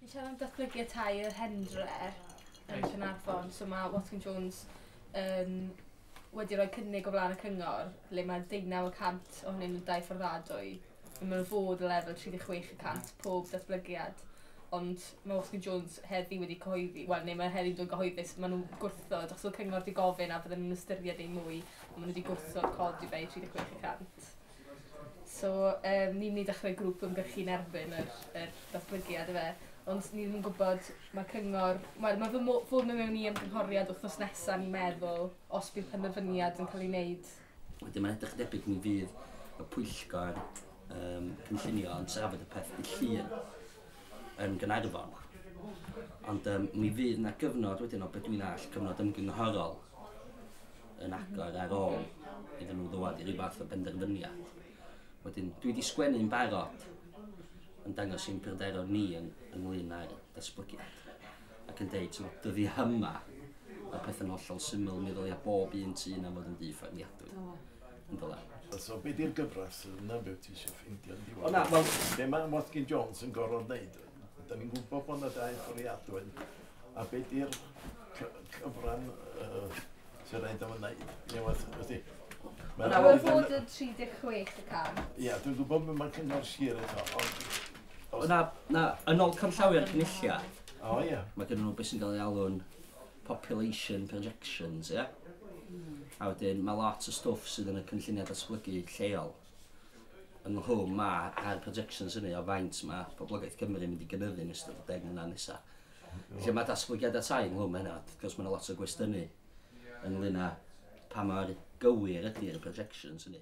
Ni'n siarad am datblygu y tai yr Hendre yn Caernarfon so ma' Watkin Jones yn wedi rhoi cynnig o flaen y cyngor le ma' deunaw y cant ohonyn nhw'n dai fforddiadwy a ma' nhw fod o lefel tri deg chwech y cant pob datblygiad ond ma' Watkin Jones heddi wedi cyhoeddi wel ne' ma' heddi'n dod gyhoeddus ma' nhw'n gwrthod achos o'dd cyngor di gofyn a bydden nhw'n ystyried eu mwy a ma' n'w wedi gwrthod codi fe i tri deg chwech y cant. So yym ni'n mynd i ddechrau grŵp ymgyrchu yn erbyn yr yr datblygiad yfe. Ond ni ddim yn gwybod, ma' cyngor... Wel ma' fy mo- ffordd o mewn i ymgynghoriad wythnos nesa o'n i'n meddwl, os bydd penderfyniad yn cael ei wneud. Wedyn mae'n edrych yn debyg mi fydd y pwyllgor yym cynllunio yn trafod y peth dydd Llun yn Gaernarfon. Ond yym mi fydd 'na gyfnod wedyn o be dwi'n all, cyfnod ymgynghorol. yn agor ar ôl iddyn nhw ddod i ryw fath o benderfyniad. Wedyn, dwi wedi sgwennu yn barod yn dangos sy'n pryderon ni yn, ynglyn â'r datblygiad ac yn deud, ti'n dyddi hyma, mae pethau'n hollol syml, mi ddylia bob un tu yna fod yn dŷ ffermiadwy. Yn dyla. So, be di'r gyfres yna be ti eisiau ffeindio yn diwedd? O na, wel... Be mae Watkin Jones yn gorfod wneud? Da ni'n gwybod bod yna dau fforiadwy. A be di'r cyfran sy'n rhaid am yna? Mae'n amlwg bod y 36 y can. Ia, dwi'n gwybod bod mae'n cyngor sir eto, ond... Na, na, yn ôl canllawiau'r cynulliau, o, ia. mae gen nhw beth sy'n cael ei alw'n population projections, ia? A wedyn, mae lot o stwff sydd yn y cynlluniau datblygu lleol yn nghlwm ma a'r projections hynny o faint mae poblogaeth Cymru yn mynd i gynyddu yn ystod y deg mlynedd nesaf. Felly mae datblygiad y tai ynghlwm â hynna, wrth gwrs mae yna lot o gwestiynu ynglŷn â pa mor gywir ydy'r projections hynny.